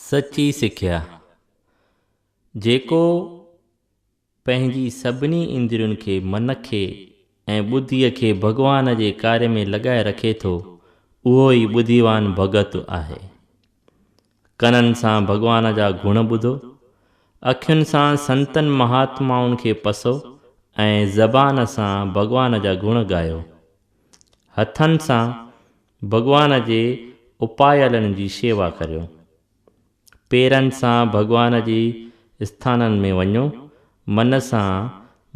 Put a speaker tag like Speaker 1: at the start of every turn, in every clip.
Speaker 1: سچي سکيا، جيڪو پنهنجي سڀني اندرين کي، من کي ۽ ٻڌيء کي ڀڳوان جي ڪاري ۾ لڳائي رکي ٿو، اهو ئي ٻڌيوان ڀڳت آهي. ڪنن سان ڀڳوان جا گڻ ٻڌو، اکين سان سنتن مهاتمائن کي پسو ۽ زبان سان ڀڳوان جا گڻ ڳايو. هٿن سان ڀڳوان جي اپايلن جي شيوا ڪريو. پيرن سان ڀڳوان جي اسٿانن ۾ وڃو، من سان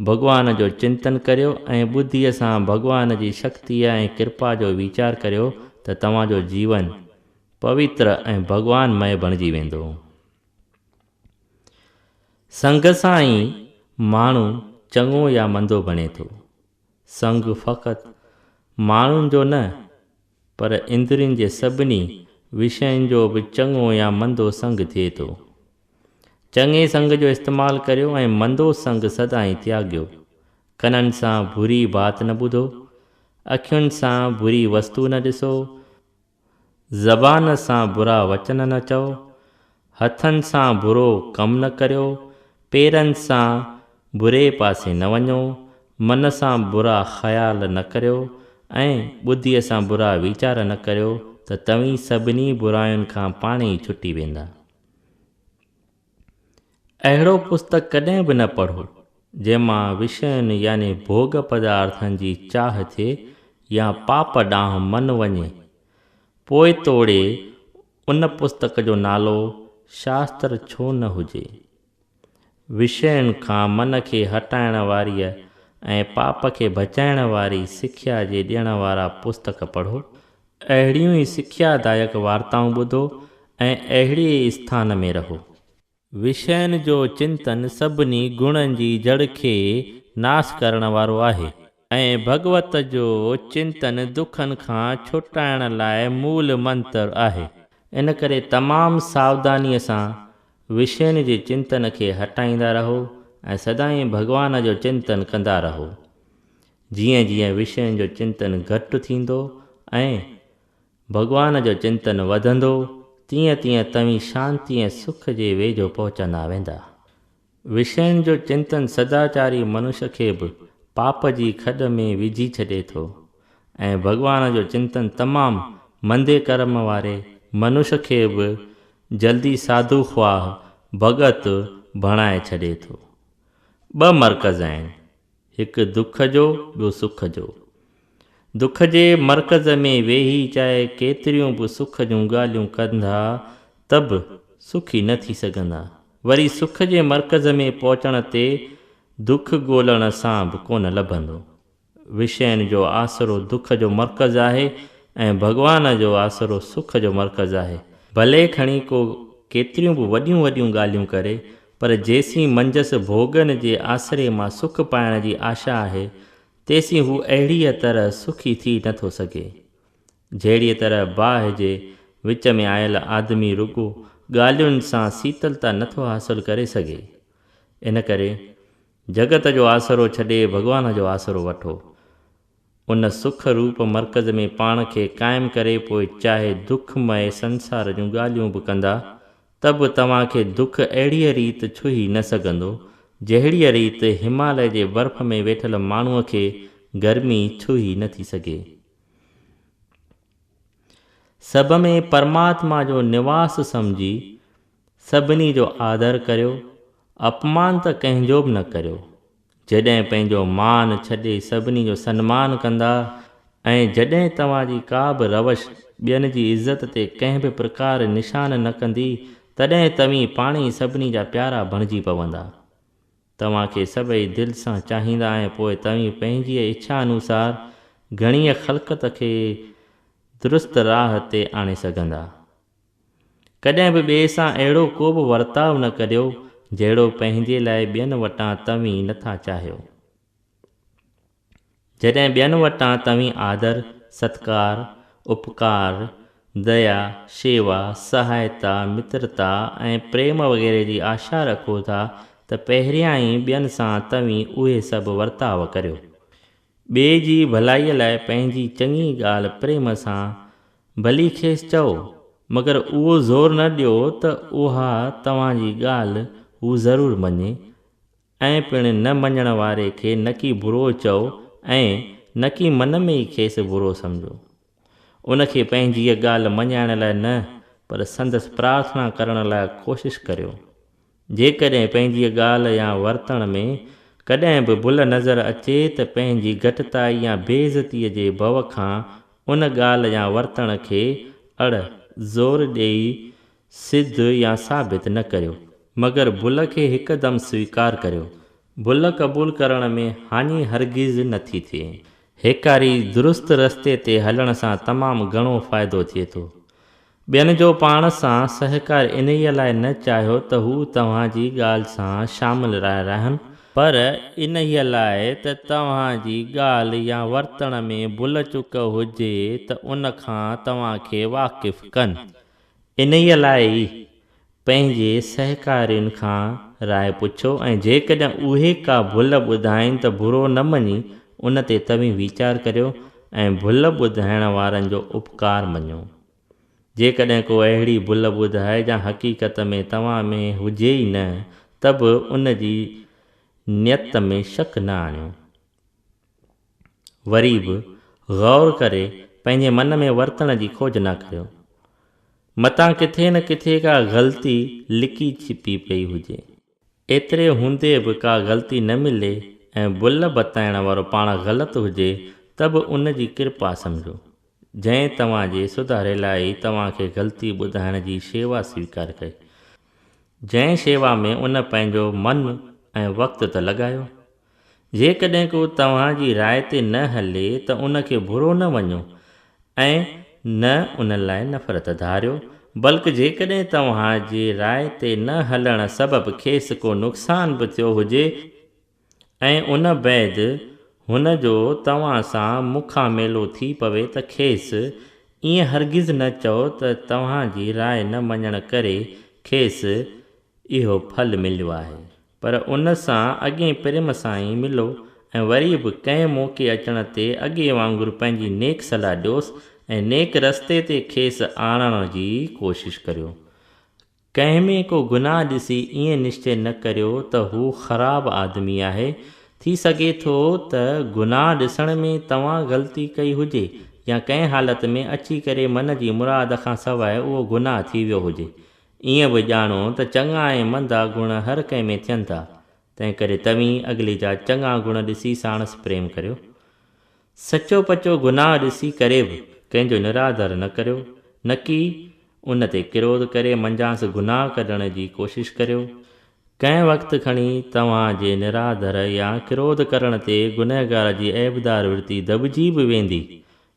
Speaker 1: ڀڳوان جو چنتن ڪريو ۽ ٻڌيء سان ڀڳوان جي شڪتيء ۽ ڪرپا جو ويچار ڪريو ته توهان جو جيون پويتر ۽ ڀڳوان مئي بڻجي ويندو. سنگ سان ئي ماڻهو چڱو يا مندو بڻي ٿو. سنگ فقط ماڻهن جو نه پر اندرين جي سڀني وشين جو به چڱو يا مندو سنگ ٿئي ٿو. چڱي سنگ جو استعمال ڪريو ۽ مندو سنگ سدائين تياڳيو. ڪنن سان بري بات نه ٻڌو، اکين سان بري وستو نه ڏسو، زبان سان برا وچن نه چئو، هٿن سان برو ڪم نه ڪريو، پيرن سان بري پاسي نه وڃو، من سان برا خيال نه ڪريو ۽ ٻڌيء سان برا ويچار نه ڪريو ته توهين سڀني براين کان پاڻهي ئي ڇٽي ويندا. اهڙو پستڪ ڪڏهن به نه پڙهو، جنهن مان وشين يعني ڀوڳ پدارٿن جي چاهه ٿئي يا پاپ ڏانهن من وڃي. پوء توڙي ان پستڪ جو نالو شاستر ڇو نه هجي. وشين کان من کي هٽائڻ واريء ۽ پاپ کي بچائڻ واري سکيا جي ڏيڻ وارا پستڪ پڙهو اهڙيون ئي سکيا دائڪ وارتائون ٻڌو ۽ اهڙي ئي اسٿان ۾ رهو. وشين جو چنتن سڀني گڻن جي جڙ کي ناس ڪرڻ وارو آهي. ۽ ڀڳوت جو چنتن دکن کان ڇٽائڻ لاء مول منتر آهي. ان ڪري تمام ساوڌانيء سان وشين جي چنتن کي هٽائيندا رهو ۽ سدائين ڀڳوان جو چنتن ڪندا رهو. جيئن جيئن وشين جو چنتن گهٽ ٿيندو ۽ ڀڳوان جو چنتن وڌندو، تيئن تيئن توهين شانتي ۽ سک جي ويجهو پهچندا ويندا. وشين جو چنتن سداچاري منش کي به پاپ جي کڏ ۾ وجهي ڇڏي ٿو ۽ ڀڳوان جو چنتن تمام مندي ڪرم واري منش کي به جلدي ساڌو خواهه ڀڳت بڻائي ڇڏي ٿو. ٻه مرڪز آهن. هڪ دک جو ٻيو سک جو. دک جي مرڪز ۾ ويهي چاهي ڪيتريون به سک جون ڳالهيون ڪندا ته به سکي نه ٿي سگهندا. وري سک جي مرڪز ۾ پهچڻ تي دک ڳولڻ سان به ڪونه لڀندو. وشين جو آسرو دک جو مرڪز آهي ۽ ڀڳوان جو آسرو سک جو مرڪز آهي. ڀلي کڻي ڪو ڪيتريون به وڏيون وڏيون ڳالهيون ڪري پر جيسين منجهس ڀوڳن جي آسري مان سک پائڻ جي آشا آهي، تيسين هو اهڙيء طرح سکي ٿي نه ٿو سگهي. جهڙيء طرح باهه جي وچ ۾ آيل آدمي رڳو ڳالهين سان سيتلتا نه ٿو حاصل ڪري سگهي. ان ڪري جڳت جو آسرو ڇڏي ڀڳوان جو آسرو وٺو. ان سک روپ مرڪز ۾ پاڻ کي قائم ڪري پوء چاهي دک مئي سنسار جون ڳالهيون به ڪندا ته به توهان کي دک اهڙيء ريت ڇهي نه سگهندو جهڙيء ريت هماليه جي برف ۾ ويٺل ماڻهوء کي گرمي ڇهي نه ٿي سگهي. سڀ ۾ پرماتما جو نواس سمجهي سڀني جو آدر ڪريو، اپمان ته ڪنهن جو به نه ڪريو. جڏهن پنهنجو مان ڇڏي سڀني جو سنمان ڪندا ۽ جڏهن توهان جي ڪا به روش ٻين جي عزت تي ڪنهن به پرڪار نشان نه ڪندي تڏهن توهين پاڻهي سڀني جا پيارا بڻجي پوندا. توهان کي سڀئي دل سان چاهيندا ۽ پوء توهين پنهنجيء اڇا انوسار گهڻيء خلقت کي درست راهه تي آڻي سگهندا. ڪڏهن به ٻئي سان اهڙو ڪو به ورتاء نه ڪريو جهڙو پنهنجي لاء ٻين وٽان توهين نه ٿا چاهيو. جڏهن ٻين وٽان توهين آدر، ستڪار، اپڪار، ديا، شيوا، سهائتا، مترتا ۽ پريم وغيره جي آشا رکو ٿا ته پهريائين ٻين سان توهين اهي سڀ ورتاء ڪريو. ٻئي جي ڀلائيء لاء پنهنجي چڱي ڳالهه پريم سان ڀلي کيس چئو، مگر اهو زور نه ڏيو ته اها توهان جي ڳالهه هو ضرور مڃي ۽ پڻ نه مڃڻ واري کي نڪي برو چئو ۽ نڪي من ۾ ئي کيس برو سمجهو. ان کي پنهنجي هيء ڳالهه مڃائڻ لاء نه پر سندس پرارٿنا ڪرڻ لاء ڪوشش ڪريو. جيڪڏهن پنهنجيء ڳالهه يا ورتڻ ۾ ڪڏهن به ڀل نظر اچي ته پنهنجي گهٽتائي يا بي عزتيء جي ڀؤ کان ان ڳالهه يا ورتڻ کي اڙ، زور ڏيئي، سڌ يا ثابت نه ڪريو، مگر ڀل کي هڪدم سويڪار ڪريو. ڀل قبول ڪرڻ ۾ هاڃي هرگز نه ٿي ٿئي. هيڪاري درست رستي تي هلڻ سان تمام گهڻو فائدو ٿئي ٿو. ٻين جو پاڻ سان سهڪار انهيء لاء نه چاهيو ته هو توهان جي ڳالهه سان شامل راء رهن، پر انهيء لاء ته توهان جي ڳالهه يا ورتڻ ۾ ڀل چڪ هجي ته ان کان توهان کي واقف ڪن. انهيء لاء ئي پنهنجي سهڪارين کان راء پڇو ۽ جيڪڏهن اهي ڪا ڀل ٻڌائين ته برو نه مڃي ان تي توهين ويچار ڪريو ۽ ڀل ٻڌائڻ وارن جو اپڪار مڃو. جيڪڏهن ڪو اهڙي ڀل ٻڌائي جا حقيقت ۾ توهان ۾ هجي ئي نه ته به ان جي نيت ۾ شڪ نه آڻيو. وري به غور ڪري پنهنجي من ۾ ورتڻ جي کوج نه ڪريو. متان ڪٿي نه ڪٿي ڪا غلطي لڪي ڇپي پئي هجي. ايتري هوندي به ڪا غلطي نه ملي ۽ بل بتائڻ وارو پاڻ غلط هجي ته به ان جي ڪرپا سمجهو، جنهن توهان جي سڌاري لاء ئي توهان کي غلطي ٻڌائڻ جي شيوا سويڪار ڪئي. جنهن شيوا ۾ ان پنهنجو من ۽ وقت ته لڳايو، جيڪڏهن ڪو توهان جي راء تي نه هلي ته ان کي برو نه مڃو ۽ نه ان لاء نفرت ڌاريو، بلڪ جيڪڏهن توهان جي راء تي نه هلڻ سبب کيس ڪو نقصان به ٿيو هجي ۽ ان بعد هن جو توهان سان مکان ميلو ٿي پوي ته کيس ائين هرگز نه چئو ته توهان جي راء نه مڃڻ ڪري کيس اهو ڦل مليو آهي. پر ان سان اڳئين پريم سان ئي ملو ۽ وري به ڪنهن موقعي اچڻ تي اڳي وانگر پنهنجي نيڪ صلاح ڏيوس ۽ نيڪ رستي تي کيس آڻڻ جي ڪوشش ڪريو. ڪنهن ۾ ڪو گناهه ڏسي ائين نشچي نه ڪريو ته هو خراب آدمي آهي، ٿي سگهي ٿو ته گناهه ڏسڻ ۾ توهان غلطي ڪئي هجي يا ڪنهن حالت ۾ اچي ڪري من جي مراد کان سواء اهو گناهه ٿي ويو هجي. ائين به ڄاڻو ته چڱا ۽ مندا گڻ هر ڪنهن ۾ ٿين ٿا، تنهنڪري توهين اڳلي جا چڱا گڻ ڏسي ساڻس پريم ڪريو. سچو پچو گناهه ڏسي ڪري به ڪنهن جو نرادر نه ڪريو، نڪي ان تي ڪروڌ ڪري منجهانس گناهه ڪڍڻ جي ڪوشش ڪريو. ڪنهن وقت کڻي توهان جي نرادر يا ڪروڌ ڪرڻ تي گنهگار جي عيبدار ورتي دٻجي به ويندي،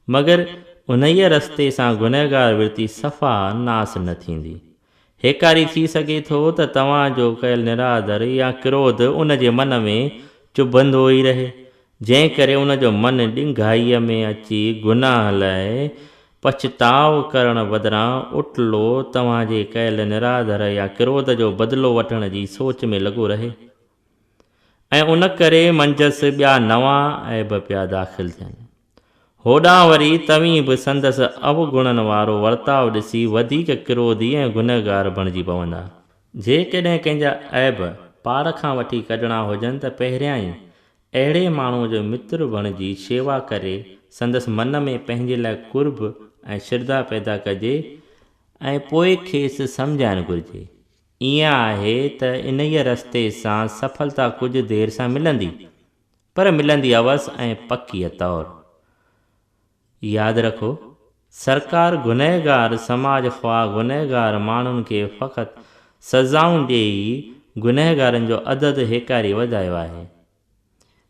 Speaker 1: مگر انهيء رستي سان گنهگار ورتي صفا ناس نه ٿيندي. هيڪاري ٿي سگهي ٿو ته توهان جو ڪيل نرادر يا ڪروڌ ان جي من ۾ چڀندو ئي رهي، جنهن ڪري ان جو من ڏنگائيء ۾ اچي گناهه لاء پڇتاء ڪرڻ بدران اٽلو توهان جي ڪيل نرادر يا ڪروڌ جو بدلو وٺڻ جي سوچ ۾ لڳو رهي ۽ ان ڪري منجهس ٻيا نوان عيب پيا داخل ٿين. هوڏانهن وري توهين به سندس اوگڻن وارو ورتاء ڏسي وڌيڪ ڪروڌي ۽ گنهگار بڻجي پوندا. جيڪڏهن ڪنهن جا عيب پاڙ کان وٺي ڪڍڻا هجن ته پهريان ئي اهڙي ماڻهوء جو متر بڻجي شيوا ڪري سندس من ۾ پنهنجي لاء قرب ۽ شرڌا پيدا ڪجي ۽ پوء کيس سمجهائڻ گهرجي. ائين آهي ته انهيء رستي سان سڦلتا ڪجهه دير سان ملندي پر ملندي عوض ۽ پڪيء طور. ياد رکو، سرڪار گنهگار سماج خواهه گنهگار ماڻهن کي فقط سزائون ڏئي ئي گنهگارن جو عدد هيڪاري وڌايو آهي.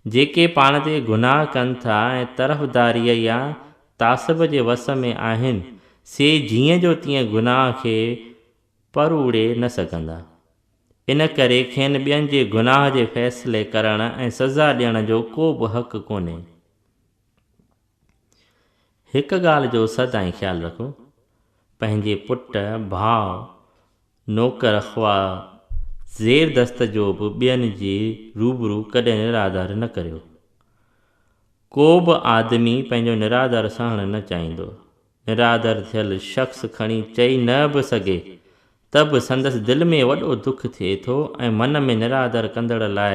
Speaker 1: جيڪي پاڻ تي گناهه ڪن ٿا ۽ طرفداريء يا تعصب جي وس ۾ آهن، سي جيئن جو تيئن گناهه کي پر اڙي نه سگهندا. ان ڪري کين ٻين جي گناهه جي فيصلي ڪرڻ ۽ سزا ڏيڻ جو ڪو به حق ڪونهي. هڪ ڳالهه جو سدائين خيال رکو، پنهنجي پٽ، ڀاء، نوڪر خواه زير دست جو به ٻين جي روبرو ڪڏهن نرادر نه ڪريو. ڪو به آدمي پنهنجو نرادر سهڻ نه چاهيندو. نرادر ٿيل شخص کڻي چئي نه به سگهي ته به سندس دل ۾ وڏو دک ٿئي ٿو ۽ من ۾ نرادر ڪندڙ لاء